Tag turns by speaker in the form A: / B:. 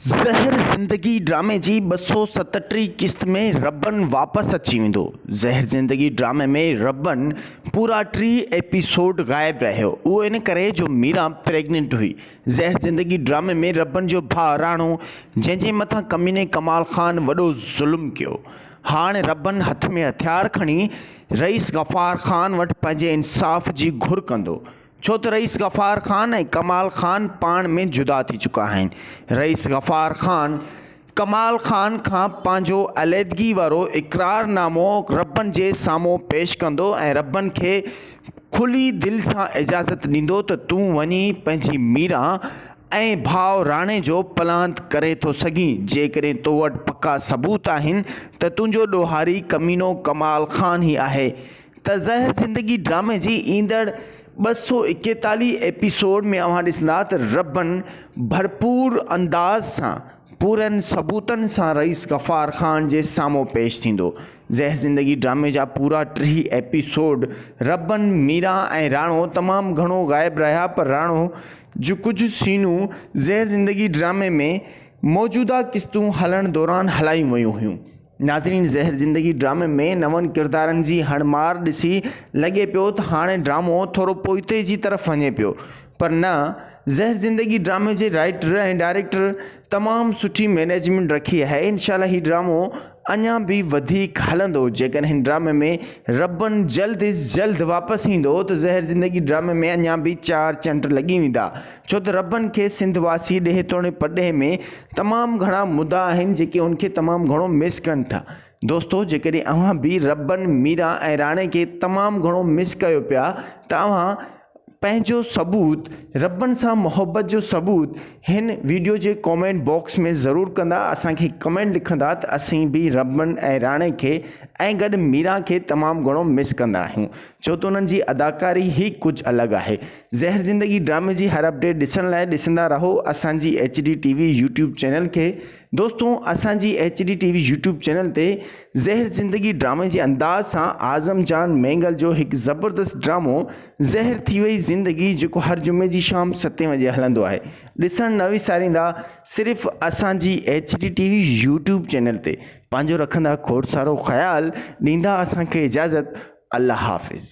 A: زهر زندگي ڊرامي جي ٻه سؤ ستٽيهه قسط ۾ ربن واپس اچي ويندو. زهر زندگي ڊرامي ۾ ربن پورا ٽي ايپيسوڊ غائب رهيو اهو ان ڪري جو ميرا پريگننٽ هئي. زهر زندگي ڊرامي ۾ ربن جو ڀاء راڻو جنهن جي مٿان ڪميني ڪمال خان وڏو ظلم ڪيو هاڻ ربن هٿ ۾ هٿيار کڻي رئيس غفار خان وٽ پنهنجي انصاف جي گهر ڪندو ڇو ته رئيس غفار خان ۽ ڪمال خان پاڻ ۾ جدا ٿي چڪا آهن. رئيس غفار خان ڪمال خان کان پنهنجو عليحدگي وارو اقرار نامو ربن جي سامهون پيش ڪندو ۽ ربن کي کلي دل سان اجازت ڏيندو ته تون وڃي پنهنجي ميران ۽ ڀاء راڻي جو پلاند ڪري ٿو سگهين جيڪڏهن تو وٽ پڪا ثبوت آهن ته تنهنجو ڏوهاري ڪمينو ڪمال خان ئي آهي ته زهر زندگي ڊرامي جي ايندڙ ٻه سؤ ايڪيتاليهه ايپيسوڊ ۾ اوهان ڏسندا ته ربن ڀرپور انداز سان پورن ثبوتن سان رئيس غفار خان جي سامهون پيش ٿيندو. زهر زندگي ڊرامي جا پورا ٽيهه ايپيسوڊ ربن، ميرا ۽ راڻو تمام گهڻو غائب رهيا پر راڻو جون ڪجهه سينون زهر زندگي ڊرامي ۾ موجوده قسطون هلڻ دوران هلايون ويون هيون. ناظرين زهر زندگي ڊرامي ۾ نون ڪردارن جي هڻ مار ڏسي لڳي پيو ته هاڻي ڊرامو ٿورو پوئتي جي طرف وڃي پيو پر نه زهر زندگي ڊرامي جي رائيٽر ۽ ڊائريڪٽر تمام سٺي مينيجمينٽ رکي آهي انشاء الله هي ڊرامو اڃان به وڌيڪ هلندو جيڪڏهن هن ڊرامي ۾ ربن جلد از جلد واپس ايندو ته زهر زندگي ڊرامي ۾ اڃان به چار چنڊ لڳي ويندا ڇو ته ربن کي سنڌ واسي ڏيهه توڻي پرڏيهه ۾ تمام گهڻا مدا آهن جيڪي ان کي تمام گهڻو مس ڪن ٿا. دوستو جيڪڏهن اوهان به ربن، ميران ۽ راڻي کي تمام گهڻو مس ڪيو پيا ته اوهان پنهنجو ثبوت ربن سان محبت جو ثبوت هن ويڊيو جي ڪامينٽ باڪس ۾ ضرور ڪندا اسان کي ڪمينٽ لکندا ته اسين به ربن ۽ راڻي کي ۽ گڏ ميران کي تمام گهڻو مس ڪندا آهيون ڇو ته انهن جي اداڪاري هي ڪجهه الڳ آهي زهر زندگي ڊرامي جي هر اپڊيٽ ڏسڻ لاء ڏسندا رهو اسان جي H D T V YouTube channel کي دوستو اسان جي H D T V YouTube channel تي زهر زندگي ڊرامي جي انداز سان اعظم جان مينگل جو هڪ زبردست ڊرامو زهر ٿي وئي زندگي جيڪو هر جمعي جي شام ستين وڄي هلندو آهي ڏسڻ نه وساريندا صرف اسان جي H D T V YouTube channel تي پنهنجو رکندا کوڙ سارو خيال ڏيندا اسان کي اجازت الله حافظ.